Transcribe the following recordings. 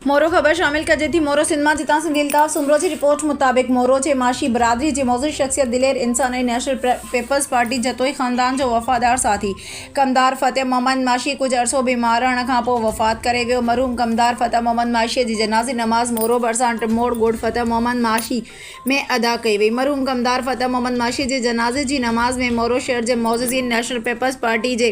مورو خبر شامل ڪجي ٿي مورو سنڌ مان جتان سنڌي الطاف سومرو جي رپورٽ مطابق مورو جي معاشي برادري جي معزز شخصيت دلير انسان ۽ نيشنل پيپلز پارٽي جتوئي خاندان جو وفادار ساٿي ڪمدار فتح محمد معاشي ڪجهه عرصو بيمار رهڻ کان پوء وفات ڪري ويو مرحوم ڪمدار فتح محمد معاشي جي جنازي نماز مورو ڀرسان ٽموڙ ڳوٺ فتح محمد معاشي ۾ ادا ڪئي وئي. مرحوم ڪمدار فتح محمد ماشي جي جنازي جي نماز ۾ مورو شهر جي معززين، نيشنل پيپلز پارٽي جي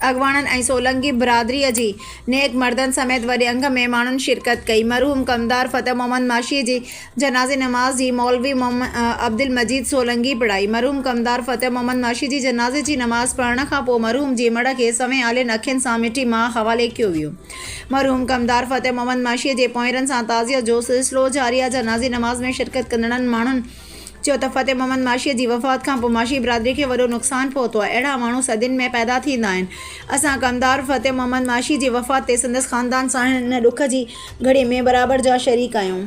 اڳواڻن ۽ سولنگي برادريء جي نيڪ مردن سميت وڏي انگ ۾ ماڻهن شرڪت ڪئي. مرحوم ڪمدار فتح محمد ماشي جي جنازي نماز جي مولوي محمد عبدالمجيد سولنگي پڙهائي. مرحوم ڪمدار فتح محمد ماشي جي جنازي جي نماز پڙهڻ کان پوء مرحوم جي مڙهه کي سوين آلين اکين سان مٺي ماء حوالي ڪيو ويو. مرحوم ڪمدار فتح محمد معاشيء جي پونئيرن سان تعزيت جو سلسلو جاري آ جنازي نماز ۾ شرڪت ڪندڙن ماڻهن چيو ته فتح محمد معاشيء جي وفات کان پوء معاشي برادري کي وڏو نقصان پهتو آ اهڙا ماڻهو صدين ۾ پيدا ٿيندا آهن اسان ڪمدار فتح محمد معاشي جي وفات تي سندس خاندان سان هن ڏک جي گهڙي ۾ برابر جا شريڪ آهيون.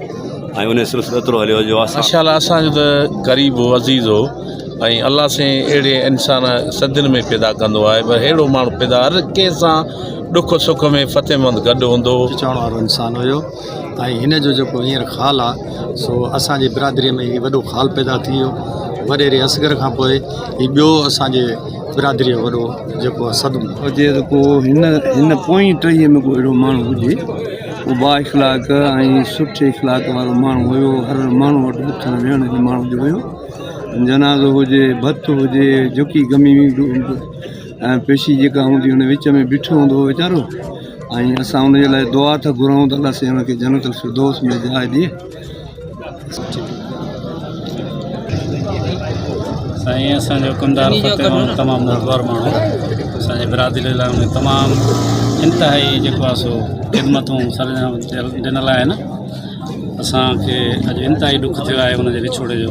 ۽ انهيء سلسلو ايترو هليو جو اسان. ماشاء الله اسان جو ته قريب هو عزيز هو ۽ الله سائين اهڙي انسان صدين ۾ پيدا ڪندو آهي پر اهڙو ماڻهو پيدا هر ڪنهن سان ڏک سک ۾ فتح مند گڏ هوندو هو. چوڻ وارو انسان هيو ۽ هن جو جيڪو هينئر خال آ سو اسان جي برادريء ۾ هي وڏو خال پيدا ٿي ويو وڏيري اصغر کان پوء هي ٻيو اسان جي برادريء جو وڏو جيڪو آ صدمو. هجي ته ڪو هن هن پوئين ٽهيء ۾ ڪو اهڙو ماڻهو هجي. هو با اخلاق ۽ سٺي اخلاق وارو ماڻهو هيو. هر ماڻهو وٽ اٿڻ ويهڻ جي ماڻهو جو هيو. جنازو هجي، ڀت هجي، جهڪي گهمي ويندو هو ۽ پيشي جيڪا هوندي هئي ان وچ ۾ بيٺو هوندو هو ويچارو ۽ اسان ان جي لاء دعا ٿا گهرون ته الله سائين ان کي جنت الفردوس ۾ جاء ڏي. سائين اسان جو ڪمدار فتح محمد تمام نازوار ماڻهو اسان جي برادري لاء ان تمام انتهائي جيڪو آهي سو خدمتون سرانجام ڏنل آهن اسان کي اڄ انتهائي ڏک ٿيو آهي ان جي وڇوڙي جو